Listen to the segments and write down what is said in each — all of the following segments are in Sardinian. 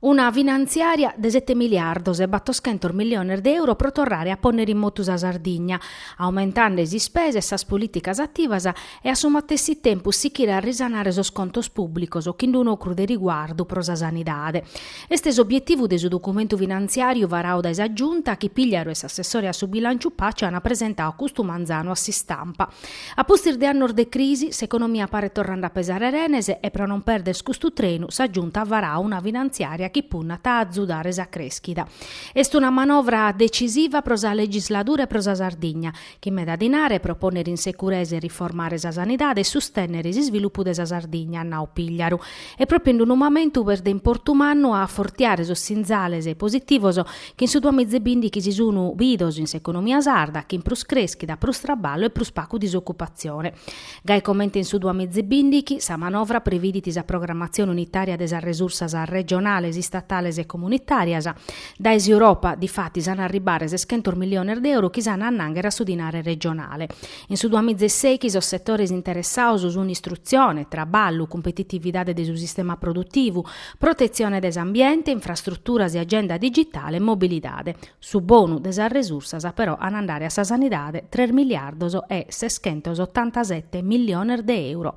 Una finantziària de sete miliardos e battoschentos milliones de euro pro torrare a pònnere in motu sa Sardigna, aumentende sas ispesas e sas polìticas ativas e a su matessi tempus sichire a risanare sos contos pùblicos chin d-unu ocru de riguardu pro sa sanidade. Est s'obietivu de su documentu finantziàriu varadu dae sa Giunta chi Pigliaru e s'assessore a su bilànciu Paci ant presentadu custu manzanu a s'istampa. A pustis de annos de crisi, s'economia paret torrende a pesare renes e pro non perder custu trenu sa Giunta at varadu una finantziària chi punnat a azudare sa crèschida. Est una manovra detzisiva pro sa legisladura e pro sa Sardigna, chin meda dinare pro pònnere in seguresa e riformare sa sanidade e sustènnere s'isvilupu de sa Sardigna, at nau Pigliaru. E pròpiu in d-unu mamentu est de importu mannu a afortiare sos sinzales positivos Chin su duamiza e bìndichi si sunu bidos in s'economia sarda, chin prus creschida, prus traballu e prus pagu disocupatzione. Gai comente in su duamiza e bìndichi, sa manovra previdit sa programmatzione unitària de sas resursas regionales, istatales e comunitàrias. Dae s'Europa, difatis, an a arribare seschentos milliones de euro chi s'an a annànghere a su dinare regionale. In su duamiza e sèichi sos setores interessados sun istrutzione, traballu, cumpetitividade de su sistema produtivu, protetzione de s'ambiente, infrastruturas e agenda digitale e mobilidade. Su bonu de sas resursas però an a andare a sa sanidade tres miliardos e seschentos otantasete milliones de euro.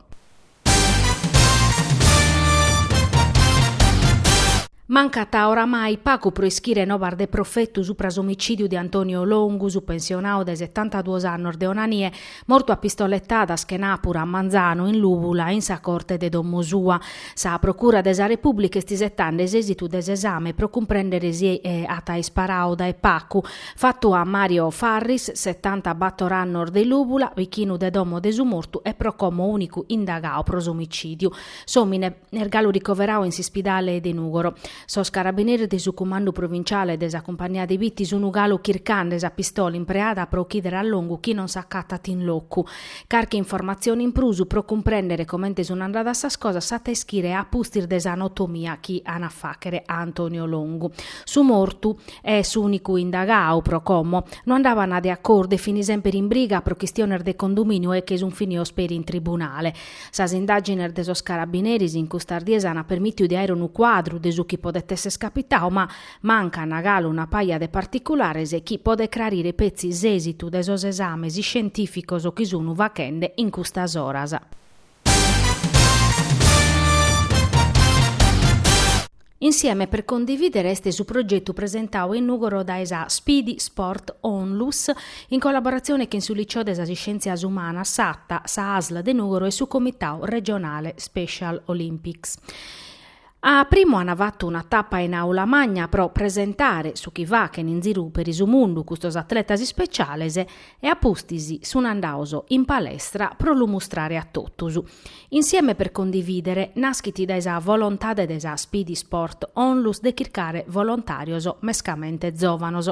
Mancat oramai pagu pro ischire nobas de profetu supra s'omicìdiu de Antonio Longu, su pensionadu de setantaduos annos de Onanie, Mortu a pistoletadas chenàpura a manzanu in Lùbula in sa Corte de domo sua. Sa Procura de sa Repùblica est isetende s'èsitu de s'esame pro cumprèndere si at isparadu dae pagu. Fatu a Mario Farris, setantabator annos de Lùbula, bichinu de domo de su mortu e pro como ùnicu indagadu pro s'omicìdiu. S'òmine. Est galu ricoveradu in s'ispidale de Nùgoro. Sos carabineris de su cumandu provinciale de sa cumpagnia de Bitti sunu galu chircande sa pistola impreada pro ochìdere a Longu chi non s'acatat in locu. Carchi informatzione in prus pro cumprèndere comente sun andadas sas cosas s'at a ischire a pustis de s'anotomia chi an a fàghere a Antonio Longu. Su mortu e s'ùnicu indagadu pro como no andaban de acordu e fin semper in briga pro chistiones de condomìniu e che sun finidos peri in tribunale. Sas indàgines de sos carabineris in custas dies ant permìtiu de àere unu cuadru de su chi podet èssere capitadu, ma mancan galu una paja de particulares chi podet crarire petzi s'èsitu de sos esames iscientìficos chi sun faghende in custas oras. Insieme per condividere est su progetu presentau in Nùgoro dae sa Speedy Sport Onlus in collaboratzione chin su Liceo de sas Iscièntzias Umanas, Satta, sa Asl de Nùgoro e su Comitau Regionale Special Olympics. A primu an fatu una tapa in Aula Magna pro presentare su chi faghen in ziru peri su mundu custos atletas ispeciales e a pustis sun andados in palestra pro lu mustrare a totus. Insieme per condividere naschit dae sa volontade de sa Speedy Sport Onlus de chircare volontàrios mescamente zòvanos.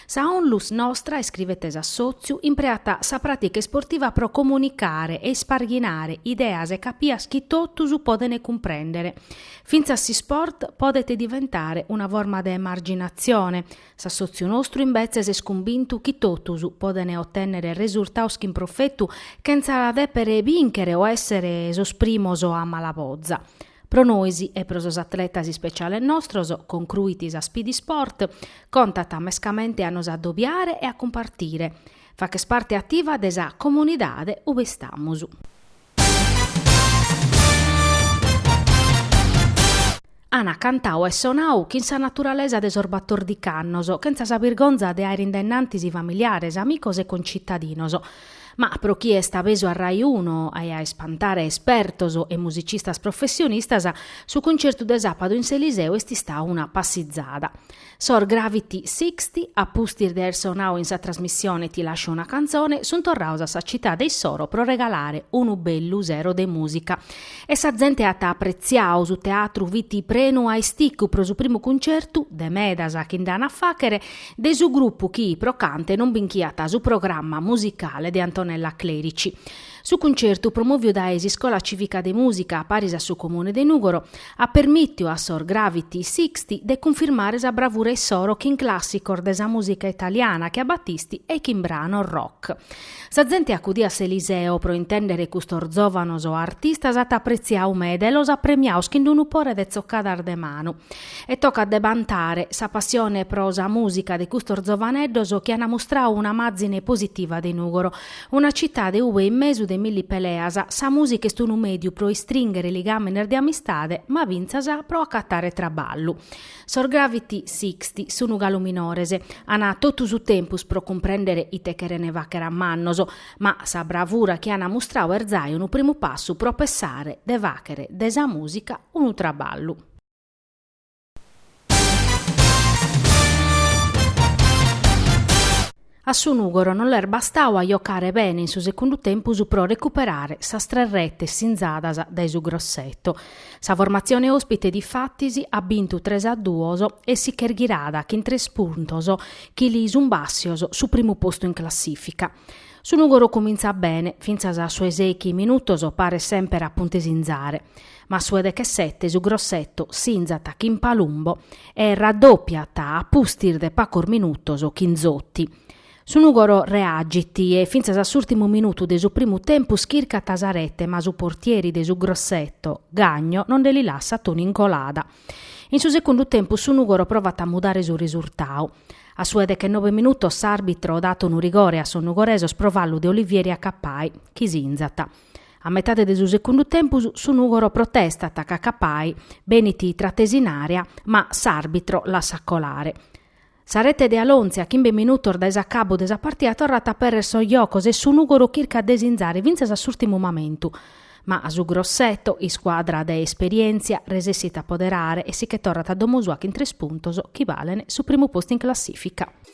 Sa Onlus nostra, iscrivet s'assòtziu, impreat sa pràtica isportiva pro comunicare e isparghinare ideas e capias chi totus podent cumprèndere. Fintzas s'isport podet diventare una forma de emarginatzione, S'assòtziu nostru imbetzes est cumbintu chi totus podent otènnere resurtados chin profetu chentza dèpere bìnchere o èssere sos primos a malaboza. Pro nois e pro sos atletas ispeciales nostros, concruit sa Speedy Sport, contat mescamente a nos adobiare e a cumpartire. Fàcher parte ativa de sa comunidade ube istamus. Ana cantau e sonau chin sa naturalesa de sos batòrdichi annos, chentza sa birgonza de aer in dae innantis familiares, amicos e concitadinos. Ma pro chie est abesu a Rai Uno e a ispantare espertos e musicistas professionistas, su concertu de sàpadu in s'Eliseo est istau una passizada. Sos Gravity Sixty, a pustis de aer sonau in sa trasmissione Ti lascio una canzone, sun torraos a sa citade issoro pro regalare unu bellu sero de mùsica. E sa zente at apretziau, su teatru fit prenu a isticu pro su primu cuncertu, de medas chi nd'an a fàchere, de su grupu chi, pro cantu, non binchiat su programma musicale de Antonella Clerici. Su cuncertu promòviu dae s'Iscola Cìvica de Mùsica paris a su Comune de Nùgoro at permìtiu a sos Gravity Sixty de cunfirmare sa bravura issoro chin clàssicos de sa mùsica italiana che a Battisti e chin branos rock. Sa zente acudia a s'Eliseo pro intèndere custos zòvanos artistas at apretziau meda e los at premiaos chin unu pore de tzocadas de manu. E tocat de bantare sa passione pro sa mùsica de custos zovaneddos chi an mustrau un'amàzine positiva de Nùgoro Una citade ube in mesu de milli peleas sa mùsica est unu mèdiu pro istrìnghere ligàmenes de amistade ma fintzas pro acatare traballu. Sos Gravity Sixty sun galu minores, an totu su tempus pro cumprèndere ite cheren fàcher a mannos, ma sa bravura chi an mustrau est zai unu primu passu pro pessare de fàchere de sa mùsica unu traballu. A su Nùgoro non l'est bastau a jocare bene in su segundu tempus pro recuperare sas tres retes sinzadas dae su Grosseto. Sa formatzione òspite difatis at bintu tres a duos e si ch'est ghirada chin tres puntos chi li sunt bàssios su primu postu in classìfica. Su Nùgoro cumintzat bene, fintzas a su 'e sèichi minutos paret semper a puntu 'e sinzare. Ma su 'e dechesete su Grosseto sinzat chin Palumbo e raddòpiat a pustis de pagos minutos chin Zotti. Su Nùgoro reagit e fintzas a s'ùrtimu minutu de su primu tempus chircat sa rete ma su portieri de su Grosseto, Gagno, no nde li lassat unu in colada. In su segundu tempus su Nùgoro provat a mudare su resurtadu. A su 'e dechenobe minutos s'àrbitro dat unu rigore a sos nugoresos pro fallu de Olivieri a Cappai, chi sinzat. A metade de su segundu tempus su Nùgoro protestat ca Cappai benit tratesu in àrea ma s'àrbitro lassat colare. Sa rete de Alonzi a chimbe minutos dae s'acabu de sa partida torrat a apèrrere sos jocos e su Nùgoro chircat de sinzare fintzas a s'ùrtimu mamentu. Ma a su Grosseto, iscuadra de esperièntzia, resessit a apoderare e si che torrat a domo sua chin tres puntos chi balent su primu postu in classìfica.